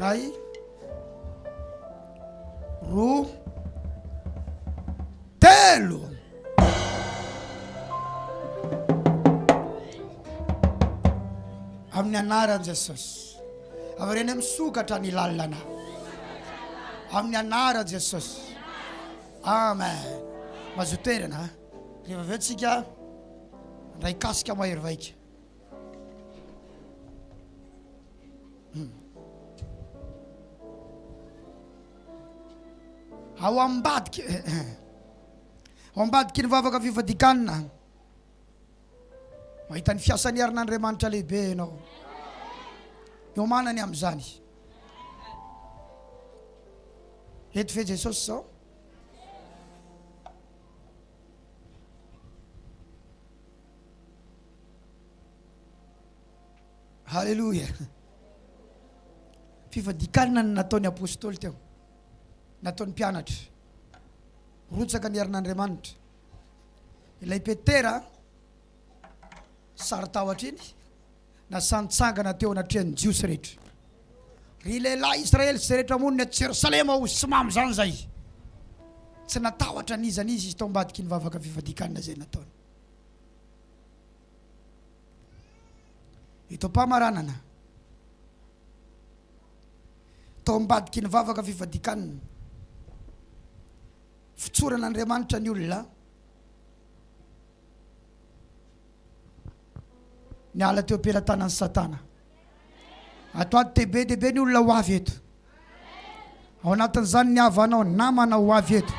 Ray, roa, telo. Amin'ny anaran'i Jesosy. Avereno misokatra ny lalana amin'ny anaran'i Jesosy. Amen. Mazoto toerana. Rehefa avy eo tsika ndray kasika mahery vaika. Hmm. Ao ambadika. Ao ambadiky ny vavaka fifadikanana. Mahita ny fiasan'ny herin'Andriamanitra lehibe ianao. Miomana ny amin'izany. Eto ve Jesosy izao? Haleloia. Fifadikanana ny nataon'ny apôstôly teo. Nataon'ny mpianatra. Rotsaka ny herin'Andriamanitra. Ilay Petera sarotahotra iny nasa nitsangana teo anatrehan'ny Jiosy rehetra. Ry lehilahy Israely sy izay rehetra monina aty Jerosalema o, sy mamy izany izay. Tsy natahotra n'iza n'iza izy tao ambadiky ny vavaka fifadikanana izay nataony. Ito am-pamaranana, tao ambadiky ny vavaka fifadikanana, Fitsoran'Andriamanitra ny olona niala teo am-pelatanan'i Satana. Atoato dia be dia be ny olona ho avy eto. Ao anatin'izany ny havanao, ny namanao ho avy eto.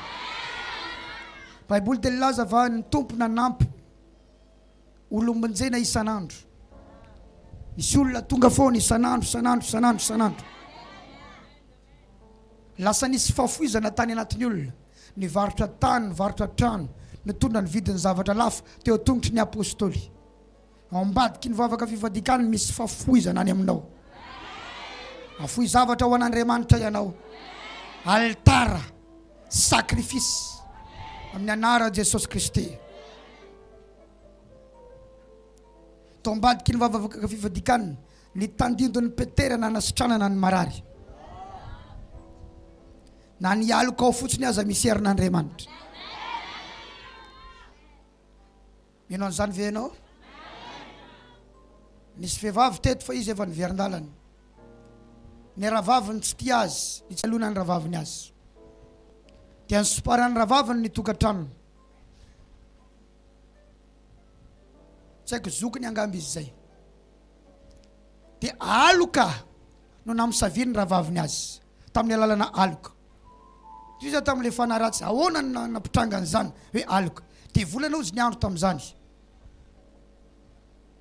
Baiboly dia nilaza fa ny Tompo nanampy olom-bonjena isan'andro. Misy olona tonga foana isan'andro, isan'andro, isan'andro, isan'andro. Lasa nisy fahafoizana tany anatin'ny olona. Nivarotra tany, nivarotra trano, nitondra ny vidin'ny zavatra lafo teo an-tongotry ny Apostoly. Ao ambadiky ny vavaka fifadikan misy fafoizana any aminao. Afoy zavatra ho an'Andriamanitra ianao. Alitara, sacrifice, amin'ny anaran'i Jesosy Kristy. Tao ambadiky ny vavaka fifadikan. Ny tandindon'i Petera nanasitranana ny marary. Na ny aloka ao fotsiny aza misy herin'Andriamanitra. Mino an'izany ve ianao? Nisy vehivavy teto fa izy efa niverin-dalana. Ny rahavaviny tsy tia azy, nitsaloana ny rahavaviny azy. Dia nisomparan'ny rahavaviny ny tokantranony. tsy haiko zokiny angamba izy zay de aloka no namosaviany rahavaviny azy tamin'ny alalana aloka toy zany tamin'ilay fanahy ratsy ahoana no na- nampitrangana izany hoe aloka de volana ozy ny andro tamin'izany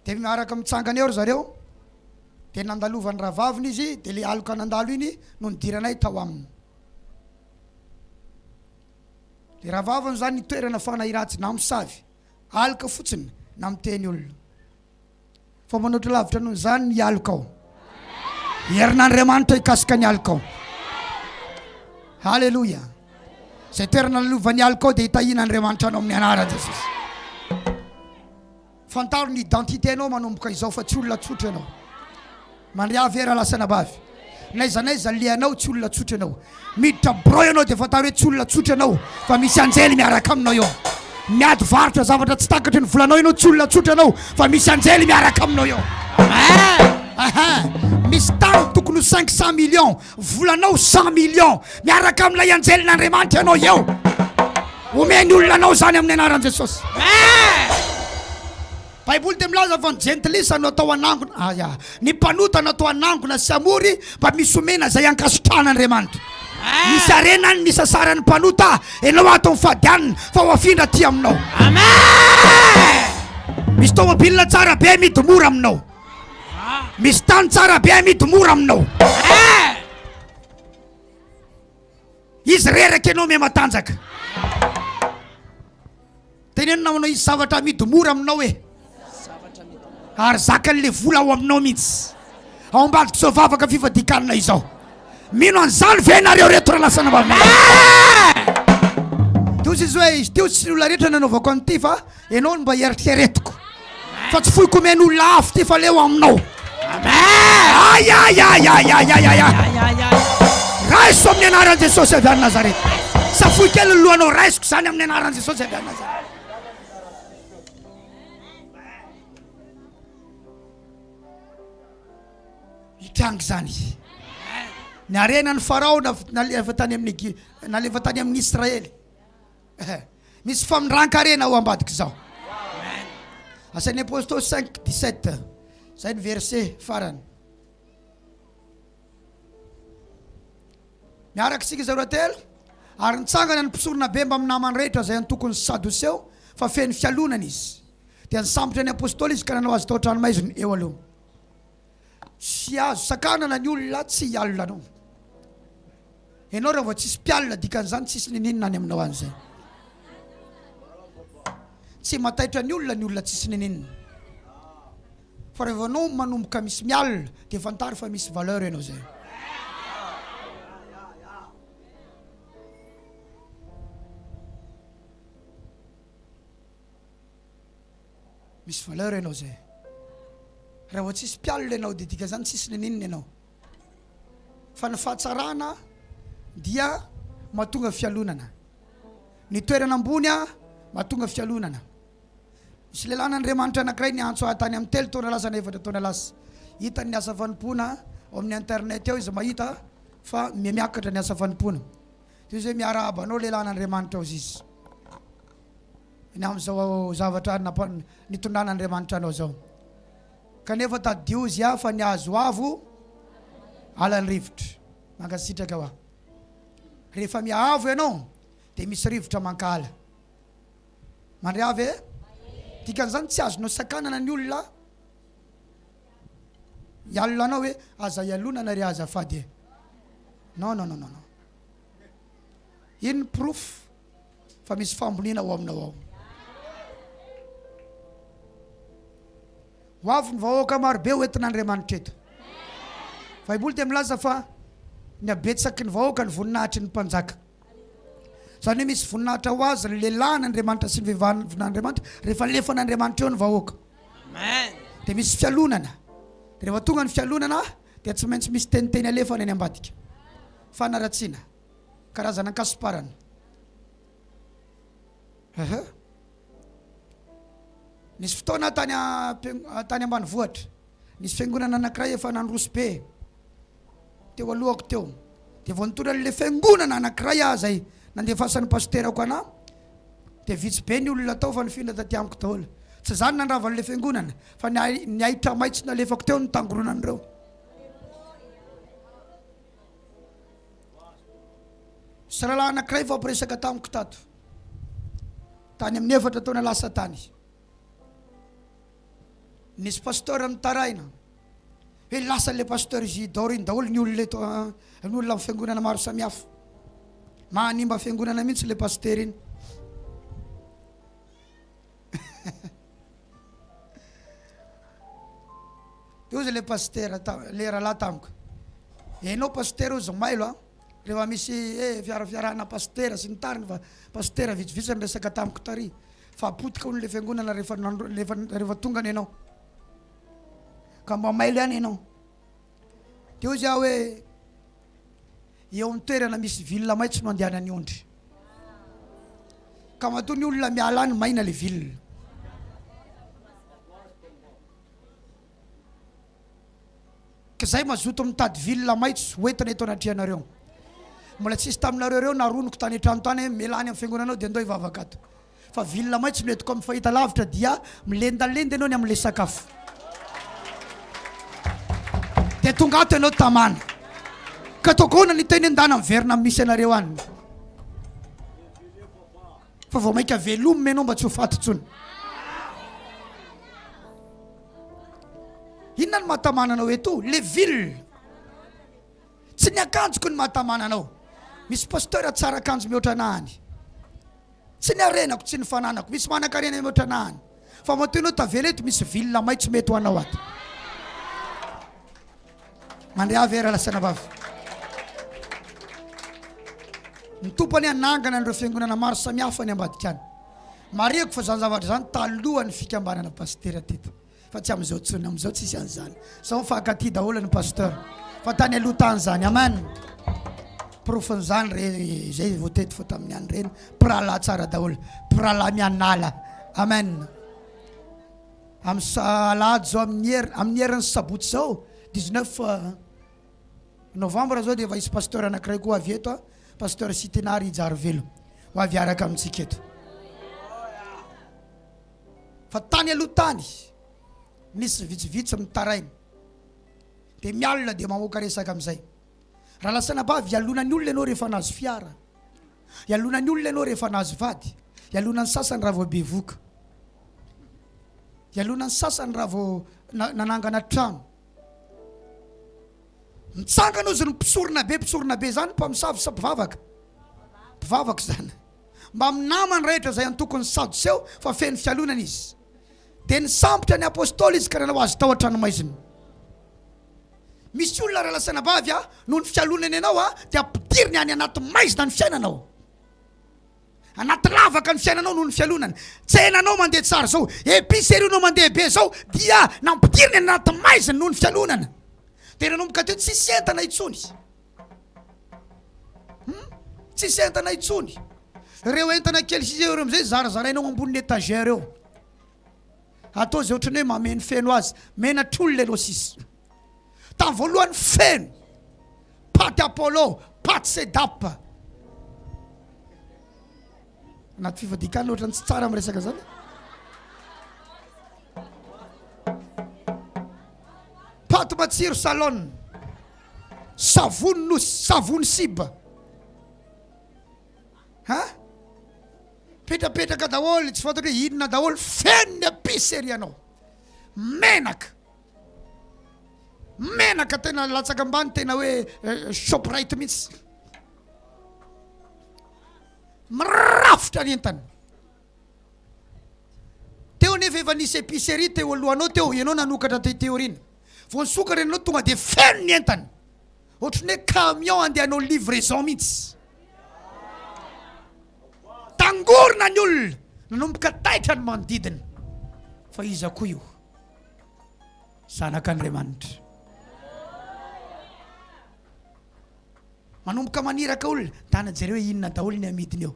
de miaraka mitsangana eo ry zareo de nandalovan'ny rahavaviny izy de le aloka nandalo iny no nidiranay tao aminy Le rahavaviny zany ny toerana fanahy ratsy na misavy aloka fotsiny na miteny olona fa manoatra lavitra noho izany ny aloka ao herin'andriamanitra hikasika ny aloka ao haleloia zay toerana lalovan'ny aloka ao dia hitahiana andriamanitra anao amin'ny anaran'i jesosy Fantaro ny identité nao manomboka izao fa tsy olona tsotra ianao. Mandria ave raha lasa anabavy. N'aiza n'aiza alehanao tsy olona tsotra ianao. Miditra birao ianao dia fantaro hoe tsy olona tsotra ianao fa misy anjely miaraka aminao eo. Miady varotra zavatra tsy takatry ny volanao ianao tsy olona tsotra ianao fa misy anjely miaraka aminao eo. Amen! Ahaa! Misy tany tokony ho cinq cent millions Volanao cent millions miaraka amin'ilay anjelin'Andriamanitra ianao eo. Omeny olona anao izany amin'ny anaran'i Jesosy. Baiboly dia milaza fa ny jentilisa no atao hanangona. Aya. Ny mpanota no atao hanangona sy hamory mba misy omena izay ankasitrahan'Andriamanitra. Misy harena ny nisasaran'ny mpanota ianao ato amin'ny fadianina fa ho afindra aty aminao. Misy tômôbila tsara be midy mora aminao. Misy tany tsara be amidy mora aminao. Izy reraka ianao miha matanjaka. Teneno namanao izy zavatra amidy mora aminao e. Ary zakan'le vola ao aminao mihitsy. Ao ambadik'izao vavaka fifadikanina izao. Mino an'izany ve nareo reto ralasana vaventy? Teo tsy hoe izy teo tsy ny olona rehetra nanaovako an'ity fa ianao no mba eritreretiko fa tsy foiko omeny olona hafa ity fa leo aminao. Ayayayayayayaya. Raiso amin'ny anaran'i Jesosy avy any Nazareth. Safoy kely ny lohanao raisiko izany amin'ny anaran'i Jesosy avy any Nazareth. Hitranga izany izy. Ny harenan'i Farao nalefa tany amin'ny Egy, nalefa tany amin'ny Israely. Misy famindran-karena ao ambadik'izao. Asan'ny Apôstôly 5, 17. Izay ny verset farany. Miaraka isika izay roa telo. Ary nitsangana ny mpisorona be mbamin'ny namany rehetra izay antokon'ny Sadoseo fa feno fialonana izy. Dia nisambotra ny apôstôly izy ka nanao azy tao an-tranomaizina eo aloha. Tsy azo sakanana ny olona tsy hialona anao. Ianao raha vao tsisy mpialona dikan'izany tsisy niniana any aminao any zay. Tsy mataitra ny olona ny olona tsisy niniana. Fa raha vao anao manomboka misy mialona dia fantaro fa misy valeur ianao zay. Misy valeur ianao zay. Raha vao tsisy mpialona ianao dia dikan'izany tsisy n'inon'inona ianao. Fa ny fahatsarana dia mahatonga fialonana. Ny toerana ambony a mahatonga fialonana. Misy lehilahin'Andriamanitra anankiray niantso ahy tany amin'ny telo taona lasa na efatra taona lasa. Hitany ny asa fanompoana ao amin'ny internet ao izy mahita fa mihamiakatra ny asa fanompoana. Dia hoe miarahaba anao lehilahin'Andriamanitra ao ziz. ny amin'izao zavatra nitondran'Andriamanitra anao izao. Kanefa tadidio Izy aho fa ny azo avo ala ny rivotra. Mankasitraka hoa. Rehefa mihaavo ianao dia misy rivotra mankahala. Mandre ahy ve? Dikan'izany tsy azonao sakanana ny olona hialona anao hoe aza hialonana re azafady e. Non non non non. Ino ny porofo? fa misy fahamboniana ao aminao ao. Ho avy ny vahoaka marobe ho entin'Andriamanitra eto. Baiboly dia milaza fa ny habetsaky ny vahoaka ny voninahitry ny mpanjaka. Izany hoe misy voninahitra ho azy ny lehilahin'Andriamanitra sy ny vehivahin'Andriamanitra rehefa alefan'Andriamanitra eo ny vahoaka. Dia misy fialonana. Dia rehefa tonga ny fialonana dia tsy maintsy misy teniteny alefana eny ambadika. Fanaratsiana. Karazana ankasomparana. Aha. Nisy fotoana aho tany am-piang- ah, tany ambanivohitra, nisy fiangonana anankiray efa nandroso be teo alohako teo. Dia vao nitondra an'ilay fiangonana anankiray aho izay nandefasan'ny pasterako anà, dia vitsy be ny olona tao fa nifindra taty amiko daholo. Tsy izaho no nandrava an'ilay fiangonana, fa ny ahi- ny ahitra maitso nalefako teo no nitangoronan'ireo. Zalahy anankiray vao miresaka tamiko tato, tany amin'ny efatra taona lasa tany. Nisy pasteur nitaraina hoe lasa ilay pasteur Isidore iny daholo ny olona eto, ah, ny olona amin'ny fiangonana maro samihafa. Mahanimba fiangonana mihitsy ilay pasteur iny. Dia hozy ilay pasitera, ilay rahalahy tamiko, ianao pasitera hozy mailo a, rehefa misy hoe fiarafiarahana pasitera sy ny tariny fa pasitera vitsivitsy no niresaka tamiko tary fa potika hono ilay fiangonana rehefa rehefa rehefa tonga any ianao ka mba mailo ihany ianao. Dia hozy aho hoe. eo amin'ny toerana misy vilona maitso no andehanan'ny ondry. Ka matoa ny olona miala any maina ilay vilona. Ka zay mazoto mitady vilona maitso hoentina eto anatrehanareo. Mbola tsisy taminareo ireo naroniko tany an-trano tany hoe mila any amin'ny fiangonanao dia ndao hivavaka ato. Fa vilona maitso no entiko amin'ny fahitalavitra dia milendalenda ianao ny amin'ilay sakafo. Dia tonga ato ianao tamana. Ka ataoko ahoana ny teny an-dana miverina misy anareo any. Fa vao mainka velomina ianao mba tsy ho faty intsony. Inona ny mahatamana anao eto? Le ville. Tsy ny akanjoko ny mahatamana anao. Misy pasteur tsara akanjo mihoatra anahany. Tsy ny harenako, tsy ny fananako. Misy manankarena mihoatra anahany. Fa matoa ianao tavela eto, misy vilona maitso mety ho anao ato. Mandria avy ary lasana vavy. Ny tompo anie hanangana an'ireo fiangonana maro samihafa any ambadika any. Marihiko fa izany zavatra izany talohan'ny fikambanana pasitera teto. Fa tsy amizao tsony amizao tsisy anzany sao mifankatia daholo ny pasteur fa tany aloha tany zany amen porofon'izany re zay votety fa tamin'ny any reny mpirahalahy tsara daholo mpirahalahy mianala amen amin'ny salady zao amin'ny her amin'ny herin'ny sabotsy zao 19 euh, novembre zao dia efa hisy pasteur anankiray koa avy eto a pasteur sitinary hijarivelo ho avy araka amintsika eto fa tany aloha tany misy vitsivitsy mitaraina dia mialona dia mamoaka resaka amin'izay. Raha lasanabavy ialona ny olona ianao rehefa nahazo fiara, ialona ny olona ianao rehefa nahazo vady, ialona ny sasany raha vao bevoka, ialona ny sasany raha vao na- nanangana trano. Mitsangana ozy ny mpisorona be, mpisorona be izany mpamosavy sa mpivavaka? Mpivavaka izany. mbamin'ny namany rehetra izay antokon'ny Sadoseo fa feno fialonana izy. Dia nisambotra ny Apostoly izy ka nanao azy tao an-tranomaizina. Misy olona raha lasan'ny abavy a, noho ny fialonany anao a, dia ampidiriny any anaty maizina ny fiainanao. Anaty lavaka ny fiainanao noho ny fialonany. Tsenanao mandeha tsara izao, épicerie nao mandeha be izao, dia nampidiriny any anaty maizina noho ny fialonana. Dia nanomboka teo tsisy entana intsony. Hum! Tsisy entana intsony! Reo entana kely sisa eo reo amizay zarazaraina ao ambonin'ny etagère eo. Atao zay otrany hoe mameno feno azy, menatra olona ianao sisa. Tam voalohany feno! Paty Apollo, paty Sedap. Anaty fifadiakana otrany tsy tsara miresaka zany. Paty matsiro salon. Savony nosy, savony siba a! Mipetrapetraka daholo, tsy fantatro hoe inona daholo, feno ny epices ery ianao. Menaka, menaka tena latsaka ambany, tena hoe shoprite mihitsy. Mirafitra ny entana. Teo nefa efa nisy epicerie teo alohanao teo ianao nanokatra an'ity théorie-ny. Vao nisokatra ianao tonga dia feno ny entana. Ohatran'ny hoe camion andeha hanao livraison mihitsy. Tangorona ny olona, nanomboka taitra ny manodidina. Fa iza koa io? Zanak'Andriamanitra. Manomboka maniraka olona, tana jereo hoe inona daholo ny amidiny eo.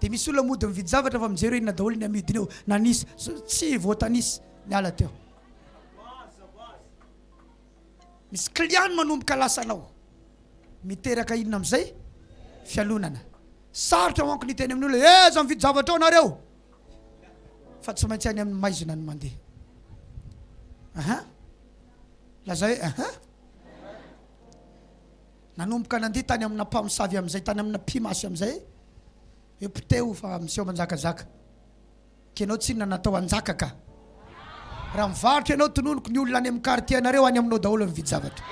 Dia misy olona mody mividy zavatra fa mijery hoe inona daholo ny amidiny eo, nanisa, tsy voatanisa, niala teo. Misy client manomboka lasa anao, miteraka inona amin'izay? Fialonana. Sarotra manko ny teny amin'olona, eh aza mividy zavatra ao nareo, fa tsy maintsy any amin'ny maizina ny mandeha. Aha, lazay, aha. Nanomboka nandeha tany amina mpamosavy amin'izay tany amina mpimasy amin'izay hoe poteho fa miseho manjakazaka ka ianao tsinona natao hanjaka ka raha mivarotra ianao tononiko ny olona any amin'ny quartier anareo any aminao daholo ny vidy-javatra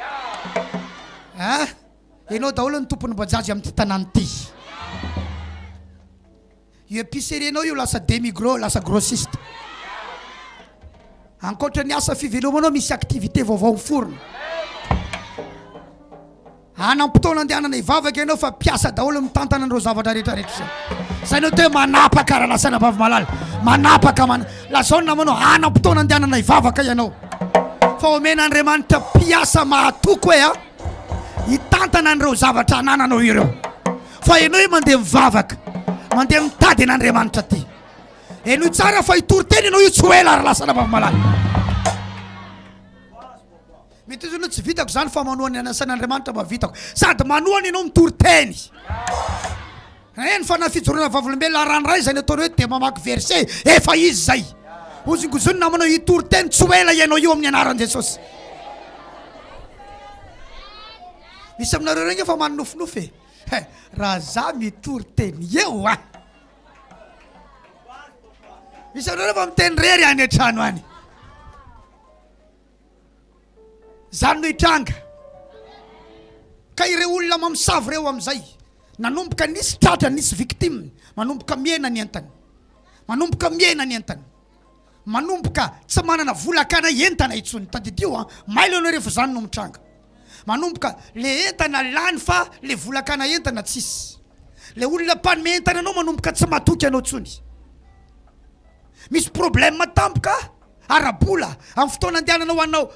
ah ianao daholo ny tompon'ny bajajy amin'ity tanàna ity Io epicerie nao io lasa demi gros lasa grossiste. Ankoatra ny asa fivelomanao misy activité vaovao miforona. Hanam-potoana andehanana hivavaka ianao fa mpiasa daholo mitantana an'ireo zavatra rehetra rehetra izao. Izay no atao hoe manapaka raha lasanà vavy malala. Manapaka man lazao ny namanao hanam-potoana andehanana hivavaka ianao. Fa omen'Andriamanitra mpiasa mahatoky hoe a hitantana an'ireo zavatra anananao ireo. Fa henoy mandeha mivavaka, mandeha mitady an'Andriamanitra aty. Henoy tsara fa hitory teny ianao io tsy ho ela ary lasa an'Ambavimalala. Mety izy tsy vitako izany fa manoa ny anasan'Andriamanitra mba vitako. Sady manoa ny ianao mitory teny. Eny fa na fijoroana vavolombelona aran'ray izay ny ataonao eto dia mamaky verset efa izy izay. Hozongozony namanao hitory teny tsy ho ela ianao io amin'ny anaran'i Jesosy. Misy aminareo ireo nge fa maninofinofy e. he raha za mitory teny eo a misy anareo fa miteny rery any an-trano any zany no hitranga ka ireo olona mamosavy ireo amin'izay nanomboka nisy tratra nisy victime manomboka miena ny entany manomboka miena ny entany Manomboka tsy manana vola hakana entana intsony. Tadidio an! Mailo ianao rehefa izany no mitranga. Manomboka le entana lany fa le vola hakana entana tsisy. Le olona mpanome entana anao manomboka tsy matoky anao intsony. Misy problème tampoka ara-bola amin'ny fotoana andehananao hanao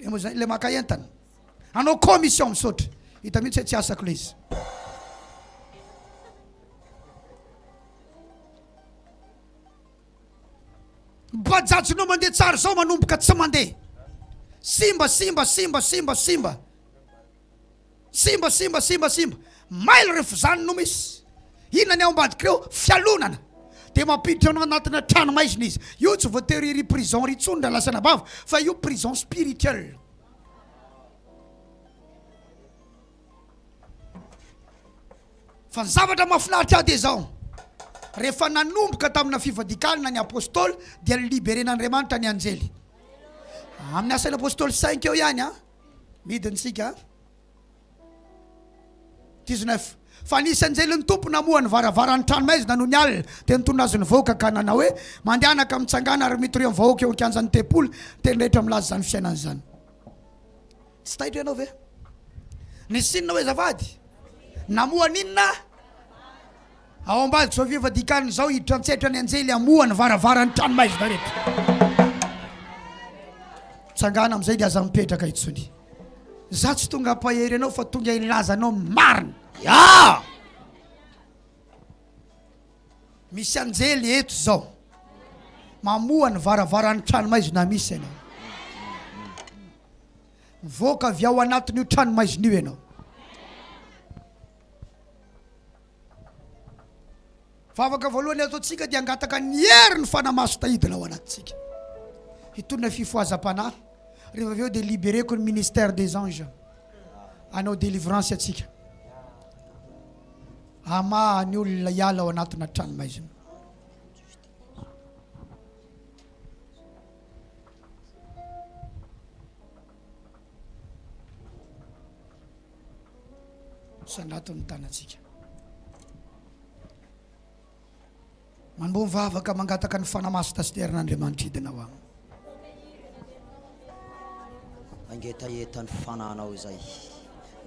le moa izay le maka entana. Hanao commission misaotra. Hita mihitsy hoe tsy asako ilay izy. Bajajinao mandeha tsara izao manomboka tsy mandeha. Simba simba simba simba simba. Simba simba simba simba. Mailo rehefa izany no misy. Inona ny ao ambadik'ireo fialonana. Dia mampiditra anao anatina trano maizina izy. Io tsy voatery ry prison ry intsony raha lasa anabavy fa io prison spirituel. Fa ny zavatra mahafinaritra ahy dia izao, rehefa nanomboka tamina fivadikalina ny Apostoly dia liberen'Andriamanitra ny anjely. Amin'ny asan'ny Apostoly cinq eo ihany an, midiny isika an. 19, Fa nisy anjelin'ny Tompo namoha ny varavaran'ny tranomaizina nony alina, dia nitonona azy nivoaka ka nanao hoe, Mandehana ka mitsangàna ary mitory amin'ny vahoaka eo an-kianjan'ny tempoly, dia ny rehetra milaza izany fiainana izany. Tsy taitra ianao ve? Nisy inona hoy azafady? Namoha an'inona? Ao ambadika izao fefy dikanina izao hiditra an-tsetra ny anjely hamoha ny varavaran'ny trano maizina rehetra. Tsangana amin'izay dia aza mipetraka intsony. Izaho tsy tonga hampahery anao fa tonga hilaza anao ny marina. Yah! Misy anjely eto izao mamoha ny varavaran'ny trano maizina misy ianao. Mivoaka avy ao anatin'io trano maizina io ianao. Vavaka voalohany ataontsika dia hangataka ny herin'ny Fanahy Masina hidina ao anatintsika, hitondra ny fifohazam-panahy, rehefa avy eo dia libereko ny ministère des anges hanao délivrance antsika, hamaha ny olona hiala ao anatina tranomaizina. Sangato ny tanantsika. Mandoa ny vavaka mangataka ny fanahy maso tasiterin'Andriamanitra hidina ao aminy. Mangetaheta ny fanahinao izay.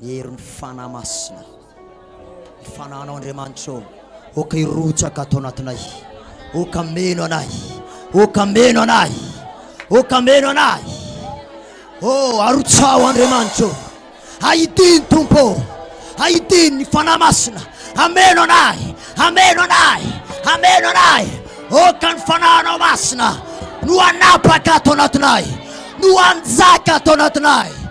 Ny herin'ny fanahy masina. Ny fanahinao Andriamanitra ô, aoka hirotsaka ato anatinay, aoka meno anay, aoka meno anay, aoka meno anay. Ô, arotsaho Andriamanitra ô, ahidino Tompo ô, ahidino ny Fanahy Masina, ameno anay, ameno anay, ameno anay. Aoka ny Fanahinao Masina no hanapaka ato anatinay, no hanjaka ato anatinay.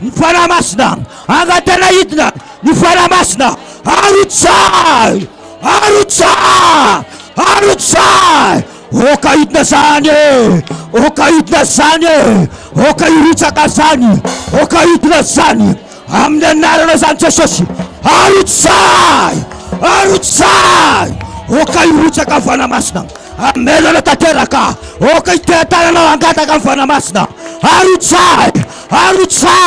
Ny Fanahy Masina angatahina hidina, ny Fanahy Masina arotsahy, arotsahy, arotsahy, oka hidina zany e, oka hidina zany e, oka hirotsaka zany, oka hidina zany, amin'ny anarana zany Jesosy, arotsahy, arotsahy, oka hirotsaka Fanahy Masina, Hamelona tanteraka aho, ôka ity an-tananao hangataka ny fanahy masina, arotsahy, arotsahy.